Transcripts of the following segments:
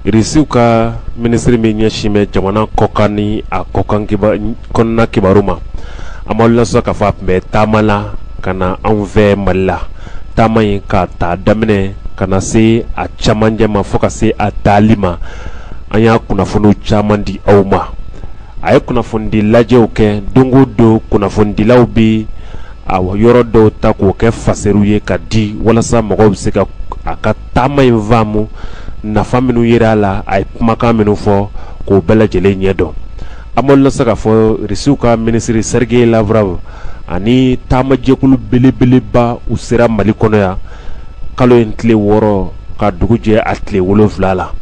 Irisiw ka minisiri min ɲɛsin bɛ jamana kɔkan ni a kɔnɔna kibaru ma an b'a lɔn sa k'a fɔ a tun bɛ taama la ka na anw fɛ mali la taama in k'a ta a daminɛ ka na se a camancɛ ma fo ka se a taali ma an y'a kunnafoni caman di aw ma a ye kunnafonidi lajɛw kɛ don o don kunnafonidilaw bɛ a yɔrɔ dɔw ta k'o kɛ fasariw ye ka di walasa mɔgɔw bɛ se ka a ka taama in faamu nafa minnu yera a la a ye kumakan minnu fɔ k'o bɛɛ lajɛlen ɲɛ dɔn an b'a lɔn sa k'a fɔ risiw ka minisiri serigeyi lavrov ani taamajɛkulu belebeleba u sera mali kɔnɔ yan kalo in tile wɔɔrɔ ka dugu jɛ a tile wolonfila la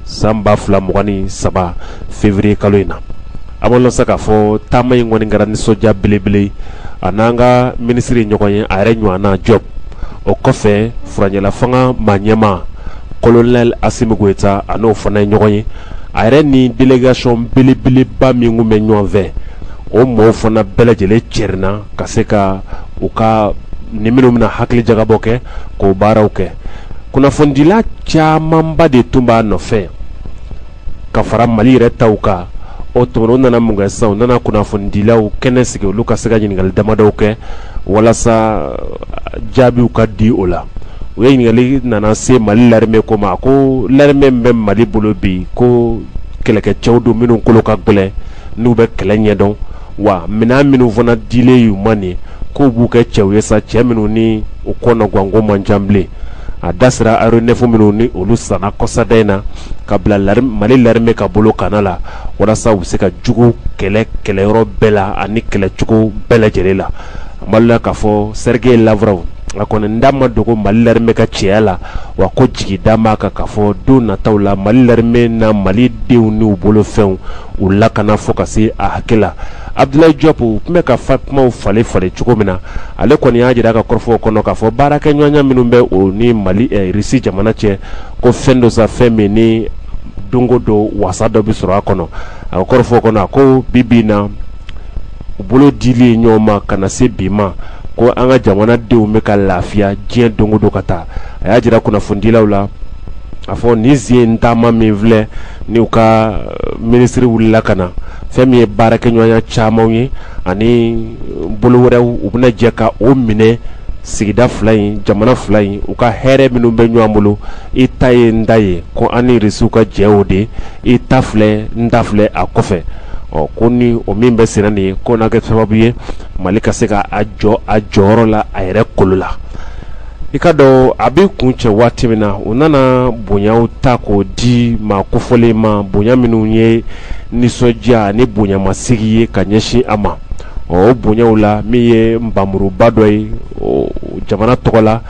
san ba fila mugan ni saba feburuye kalo in na an b'a lɔn sa k'a fɔ taama in kɔni kɛra nisɔndiya belebele a n'an ka minisiri ye ɲɔgɔn ye a yɛrɛ ɲɔgɔn jɔp o kɔfɛ furancɛlafanga maa ɲɛmaa kolonɛli asimi goyita a n'o fana ye ɲɔgɔn ye a yɛrɛ ni delegasiyɔn belebeleba min bɛ ɲɔgɔn fɛ o mɔgɔw fana bɛɛ lajɛlen cɛrinna ka se ka u ka ni minnu bɛna hakili jagabɔ kɛ k'o baaraw kɛ kunnafonidila camanba de tun b'a nɔfɛ ka fara mali yɛrɛ ta kan o tuma na u nana mun kɛ sisan u nana kunnafonidilaw kɛnɛ sigi olu ka se ka ɲininkali damadɔ kɛ walasa uh, jaabiw ka di o la u ye ɲininkali nana se mali larimɛ ko ma ko larimɛ min bɛ mali bolo bi ko kɛlɛkɛcɛw don minnu kolo ka gɛlɛn n'u bɛ kɛlɛ ɲɛdɔn wa minɛn minnu fana dilen y'u ma nin k'u b'u kɛ cɛw ye sa cɛ minnu ni u kɔnɔganko man ca bilen a da sera aéronef minnu ni olu san kɔsada in na ka bila mali larimɛ ka bolo kana la walasa u bɛ se ka jugu kɛlɛ kɛlɛyɔrɔ bɛɛ la ani kɛlɛcogo bɛɛ lajɛlen la an b'a lɔn k'a fɔ serigeyi lavrov a kɔni n da ma dogo mali larimɛ ka cɛya la wa ko jigi d'a ma kan k'a fɔ don nataw la mali larimɛ na mali denw ni u bolofɛnw u lakana fo ka se a hakɛ la abudulayi jɔp u tun bɛ ka fa kumaw falen falen cogo min na ale kɔni y'a jira a ka kɔrɔfɔw kɔnɔ k'a fɔ baarakɛ ɲɔgɔnya minnu bɛ o ni mali risi jamana cɛ ko fɛn don sa fɛn min ni don o don wasa dɔ bɛ sɔrɔ a kɔnɔ a ka kɔrɔfɔw kɔnɔ a ko bi bi in na u bolo dilen ye ɲɔgɔn ma ka na se bi ma ko an ka jamana denw bɛ ka lafiya diɲɛ don o don ka taa a y'a jira kunnafonidilaw la a fɔ nin sen taama min filɛ nin u ka minisiri wulila ka na fɛn min ye baara kɛ ɲɔgɔnya caman ye ani bolo wɛrɛw u bɛna jɛ ka o minɛ sigida fila in jamana fila in u ka hɛrɛ minnu bɛ ɲɔgɔn bolo i ta ye n ta ye ko an ni risiw ka jɛ o de i ta filɛ n ta filɛ a kɔfɛ ɔ ko ni o min bɛ senna nin ye k'o na kɛ sababu ye mali ka se ka a jɔ a jɔyɔrɔ la a yɛrɛ kolo la i ka dɔn a bɛ kuncɛ waati min na u nana bonyaw ta k'o di maa kofɔlen ma bonya minnu ye nisɔndiya ni bonyamasigi ye ka ɲɛsin a ma ɔ o bonyaw la min ye npanmuruba dɔ ye jamana tɔgɔ la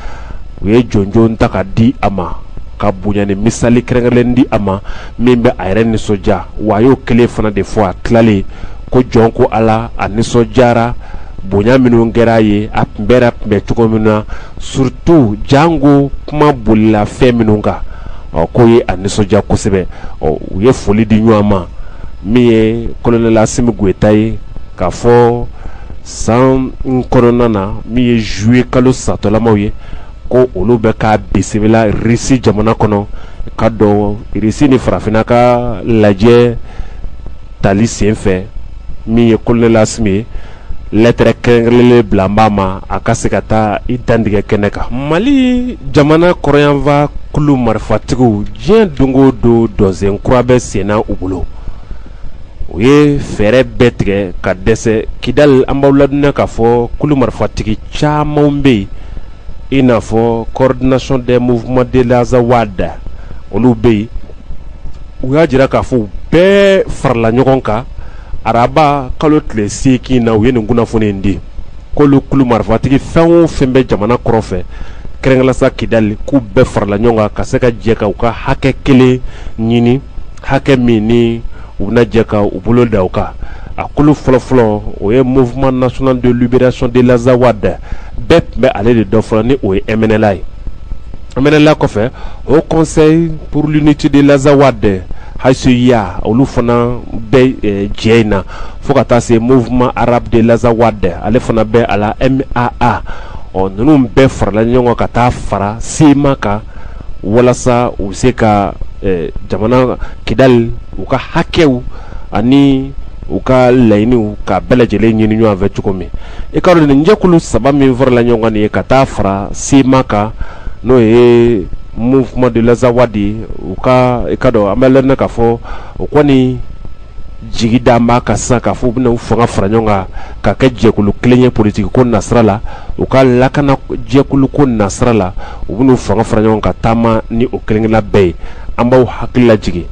u ye jɔnjɔn ta ka di a ma ka bonya ni misali kɛrɛnkɛrɛnnen di a ma min bɛ a yɛrɛ nisɔndiya wa a y'o kelen fana de fɔ a tilalen kɔ jɔn ko ala a nisɔndiyara bonya minnu kɛra a ye a tun bɛɛ tun bɛ cogo min na surtout janko kuma bolila fɛn minnu kan ɔ k'o ye a nisɔndiya kosɛbɛ ɔ u ye foli di ɲɔgɔn ma min ye kolonɛli Asimi Goyita ye k'a fɔ san kɔnɔna na min ye zuye kalo satɔlamaw ye ko olu bɛ k'a bisimila irisi jamana kɔnɔ ka dɔn irisi ni farafinna ka lajɛ tali sen fɛ min ye kolonɛli Asimi ye lɛtɛrɛ kɛrɛnkɛrɛnnen bilalen b'a ma a ka se ka taa i dantigɛ kɛnɛ kan mali jamana kɔrɔnyanfan kulu marifatigiw diɲɛ don o don dɔnsen kura bɛ senna u bolo u ye fɛɛrɛ bɛɛ tigɛ ka dɛsɛ kidali an b'aw ladɔnniya k'a fɔ kulu marifatigi caman bɛ yen i n'a fɔ Coordination des mouvements de l'Azawad olu bɛ yen u y'a jira k'a fɔ u bɛɛ farala ɲɔgɔn kan araba kalo tile segin na u ye nin kunnafoni in di k'olu kulu marifatigi fɛn o fɛn bɛ jamana kɔrɔn fɛ kɛrɛnkɛrɛnnenya la kidali k'u bɛɛ farala ɲɔgɔn kan ka se ka jɛ ka u ka hakɛ kelen ɲini hakɛ min ni u bɛna jɛ ka u bolo da u kan a kulu fɔlɔfɔlɔ o ye mouvement national de libération de l'Azawad bɛɛ tun bɛ ale de dɔn fɔlɔ ni o ye MNLA ye MNLA kɔfɛ Haut conseil pour l'unité de l'Azawad HCUA olu fana bɛ eh, jɛ in na fo ka taa se mouvement arabe de l'Azawad ale fana bɛ a la MAA ɔ ninnu bɛɛ farala ɲɔgɔn kan ka taa fara CMA kan walasa u se ka jamana kidali u ka hakɛw ani u ka laɲiniw ka bɛɛ lajɛlen ɲini ɲɔgɔn fɛ cogo min i ka dɔn nin jɛkulu saba min farala ɲɔgɔn ye ka taa fara CMA kan n'o ye mouvement de l'Azawad ye u ka i ka dɔn an bɛ la k'a fɔ o kɔni jigi dalen b'a kan sisan k'a fɔ u bɛna fanga fara ɲɔgɔn kan ka kɛ jɛkulu kelen ye politigi ko nasira la u ka lakana jɛkulu ko nasira la u bɛ fanga fara ɲɔgɔn kan ka taama ni o kelen-kelenna bɛɛ ye an b'aw hakili lajigi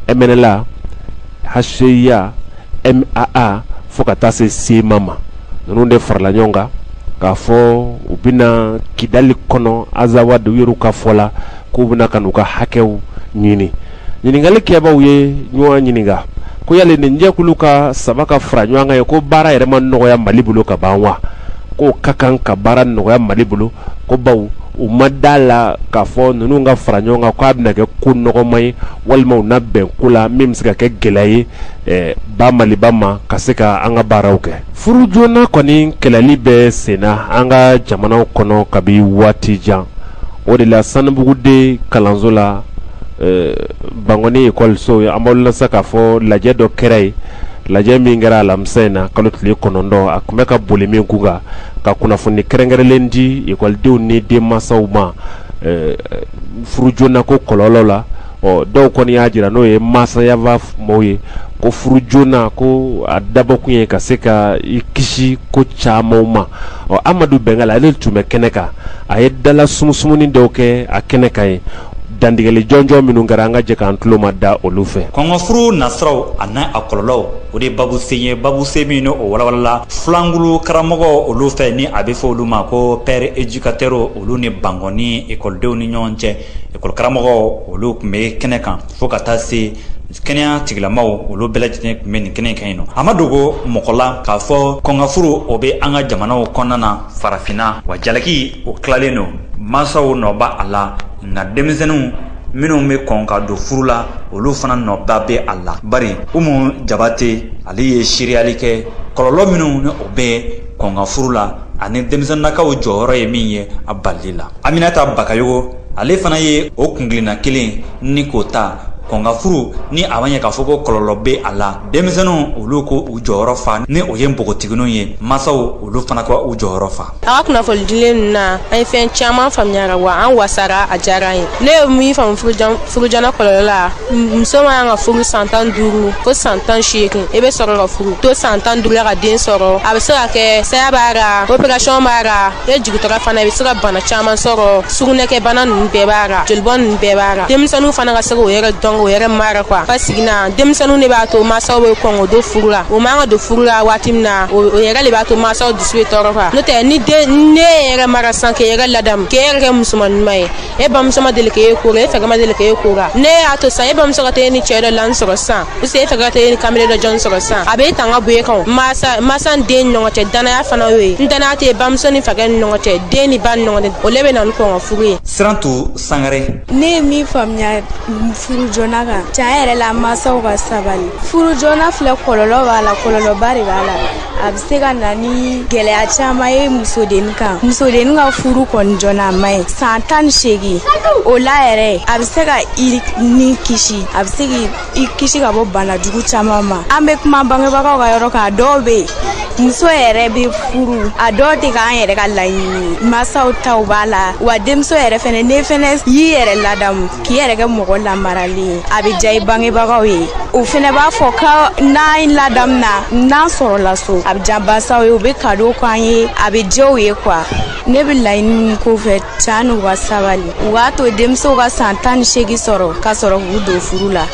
MNLA HCUA MAA fo ka taa se CMA ma ninnu de farala ɲɔgɔn kan k'a fɔ u bɛna kidali kɔnɔ Azawad yɛrɛ ka fɔ la k'u bɛna ka u ka hakɛw ɲini ɲininkali kɛbaaw ye ɲɔgɔn ɲininka ko yali nin jɛkulu ka saba ka fara ɲɔgɔn kan ye ko baara yɛrɛ ma nɔgɔya mali bolo ka ban wa k'o ka kan ka baara nɔgɔya mali bolo ko bawo u ma da a la k'a fɔ ninnu ka fara ɲɔgɔn kan k'a bɛna kɛ ko nɔgɔma ye walima u na bɛn ko la min bɛ se ka kɛ gɛlɛya ye eh, ba maliba ma ka se ka an ka baaraw kɛ furu joona kɔni kɛlɛli bɛ senna an ka jamanaw kɔnɔ kabi waati jan o de la sanubugu deux kalanso la Bankɔni ekɔliso ye an bɛ se k'a fɔ lajɛ dɔ kɛra yen lajɛ min kɛra alamisa in na kalo tile kɔnɔntɔn a tun bɛ ka boli min k'u kan ka kunnafoni kɛrɛnkɛrɛnlen di ekɔlidenw ni den mansaw ma furu joona ko kɔlɔlɔ la ɔ dɔw kɔni y'a jira n'o ye masaya fan mɔgɔw ye ko furu joona ko a dabɔ tun ye ka se ka i kisi ko caman ma ɔ amadu bɛngali ale tun bɛ kɛnɛ kan a ye dala sumusumuni dɔw kɛ a kɛnɛ kan yen dantigɛli jɔnjɔn minnu kɛra an ka jɛ k'an tulo mada olu fɛ kɔn ka furu nasiraw ani a kɔlɔlɔw o de ye babu sen ye babu sen min n'o walawalala filankulu karamɔgɔw olu fɛ ni a bɛ fɔ olu ma ko pairs éducateurs olu ni bankɔni ekɔlidenw ni ɲɔgɔn cɛ ekɔli karamɔgɔw olu tun bɛ kɛnɛ kan fo ka taa se kɛnɛya tigilamaw olu bɛɛ lajɛlen tun bɛ nin kɛnɛ in kan yen nɔ a ma dogo mɔgɔ la k'a fɔ kɔn ka furu o bɛ an ka jamanaw kɔnɔna na farafinna wa jalaki o tilalen don mansaw nɔ b'a la nka denmisɛnninw minnu bɛ kɔn ka don furu la olu fana nɔba bɛ a la bari umu jabate ale ye seereyali kɛ kɔlɔlɔ minnu ni o bɛ kɔn ka furu la ani denmisɛnlakaw jɔyɔrɔ ye min ye a balili la aminata bakayogo ale fana ye o kun kelenna kelen ni k'o ta kɔn ka furu ni a ma ɲɛ k'a fɔ ko kɔlɔlɔ bɛ a la denmisɛnninw olu ka u jɔyɔrɔ fa ni o ye npogotigininw ye masaw olu fana ka u jɔyɔrɔ fa a ka kunnafoni dilen ninnu na an ye fɛn caman faamuya a ra wa an wasara a diyara an ye ne ye min faamu furu joona kɔlɔlɔ la muso man kan ka furu san tan duuru fo san tan seegin i bɛ sɔrɔ ka furu to san tan duuru la ka den sɔrɔ a bɛ se ka kɛ saya b'a ra operation b'a ra n'i jigintɔla fana i bɛ se ka bana caman sɔrɔ sugunɛkɛ bana ninnu bɛɛ b'a ra jolibɔn ninnu bɛɛ b'a ra denmisɛnninw fana ka se k'o yɛrɛ dɔn k'o yɛrɛ mara quoi basigi na denmisɛnninw de b'a to mansaw bɛ kɔn k'o don furu la o man ka don furu la waati min na o yɛrɛ de b'a to mansaw dusu bɛ tɔɔrɔ fa n'o tɛ ni den n'e yɛrɛ mara sa k'e yɛrɛ ladamu k'e yɛrɛ kɛ musoman ɲuman ye e bamuso ma deli k'e ko la e fa ma deli k'e ko la n'e y'a to sa e bamuso ka t'e ni cɛ dɔ lan sɔrɔ sa u se e fa ka t'e ni kamalen dɔ jɔn sɔrɔ sa a bɛ tanga bɔ e kan masa masa den ɲɔgɔn cɛ danaya fana y'o ye ni danaya tɛ bamuso ni fakɛ ni ɲɔgɔn cɛ den ni ba ni ɲɔgɔn cɛ o le bɛ na ni kɔn ka furu ye siran to sangare ne ye min faamuya furu joona kan can yɛrɛ la masaw ka sabali furu joona filɛ kɔlɔlɔ b'a la kɔlɔlɔba de b'a la a bɛ se ka na ni gɛlɛya caman ye musodenni kan musodenni ka furu kɔni joona a man ɲi san tan ni seegin o la yɛrɛ a bɛ se ka i ni kisi a bɛ se k'i i kisi ka bɔ bana jugu caman ma an bɛ kuma bangebagaw ka yɔrɔ kan dɔw bɛ yen muso yɛrɛ bɛ furu a dɔw tɛ k'an yɛrɛ ka laɲini masaw taw b'a la wa denmuso yɛrɛ fɛnɛ n'e fɛnɛ y'i yɛrɛ ladamu k'i yɛrɛ kɛ mɔgɔ lamaralen ye a bɛ diya i bangebagaw ye u fɛnɛ b'a fɔ ko n'an ladamuna n'an sɔrɔla so a bɛ diya masaw ye u bɛ kado k'an ye a bɛ diya u ye kuwa ne bɛ laɲini min k'u fɛ can n'u ka sabali u k'a to denmisɛnw ka san tan ni seegin sɔrɔ k'a sɔrɔ k'u don furu la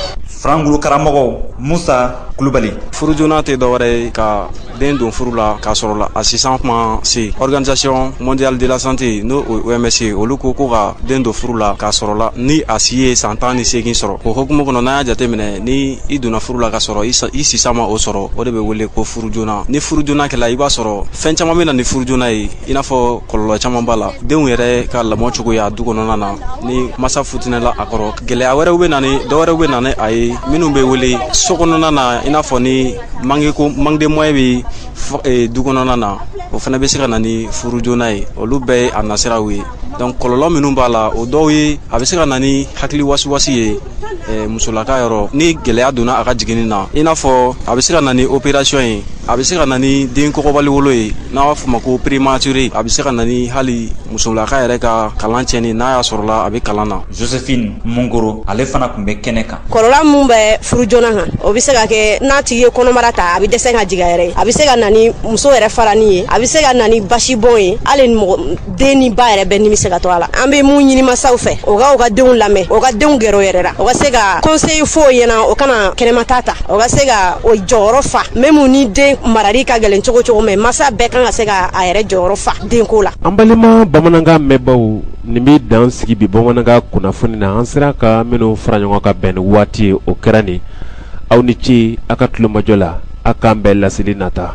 furankulu karamɔgɔ musa kulubali furu joona tɛ dɔwɛrɛ ye ka den don furu la k'a sɔrɔ la a si san ko ma se organisation mondiale de la santé n'o OMS ye olu ko ko ka den don furu la k'a sɔrɔ la ni a si ye san tan ni seegin sɔrɔ o hokumu kɔnɔ n'an y'a jateminɛ ni i donna furu la k'a sɔrɔ i si san ma o sɔrɔ o de bɛ wele ko furu joona ni furu joona kɛla i b'a sɔrɔ fɛn caman bɛ na ni furu joona ye i n'a fɔ kɔlɔlɔ caman b'a la denw yɛrɛ ka lamɔcogoya du kɔnɔna na ni masa futinɛla a kɔrɔ gɛlɛya wɛrɛw bɛ na ni dɔwɛrɛw bɛ na ni a ye minnu bɛ wele so kɔnɔna na i n'a fɔ ni manque ko manque de moyen bɛ e, du kɔnɔna na o fana bɛ se ka na ni furu joona ye olu bɛɛ ye a nasiraw ye donc kɔlɔlɔ minnu b'a la o dɔw ye a bɛ se ka na ni hakili wasiwasi ye eh, musolaka yɔrɔ ni gɛlɛya donna a ka jiginni na i n'a fɔ a bɛ se ka na ni opération ye a bɛ se ka na ni den kɔgɔbali wolo ye n'a b'a fɔ ma ko prématuré a bɛ se ka na ni hali musolaka yɛrɛ ka kalan cɛnni n'a y'a sɔrɔla a bɛ kalan na josephine mungoro ale fana tun bɛ kɛnɛ kan kɔlɔlɔ min bɛ furu joona kan o bɛ se ka kɛ n'a tigi ye kɔnɔbara ta a bɛ dɛsɛ ka jigin a yɛrɛ ye a bɛ se ka na ni muso yɛrɛ farani ye a bɛ se ka na ni basibɔn ye hali den ni ba yɛrɛ bɛɛ ni bɛ se ka to a la an be mun ɲini masaw fɛ o ka u ka denw lamɛn o ka denw gɛrɛ o yɛrɛ la o ka se ka konseyi fɔ o ɲɛna o kana kɛnɛmata ta o ka se ka o jɔyɔrɔ fa même ni den marali ka gɛlɛn cogo cogo mais masa bɛɛ kan ka se ka a yɛrɛ jɔyɔrɔ fa denko la an balima bamanankan mɛnbaw nin be dan sigi bi bamanankan kunnafoni na an sera ka minw fara ɲɔgɔn ka bɛn ni waati ye o kɛra nin aw ni ce a ka tulomajɔ la a k'an bɛn laseli nata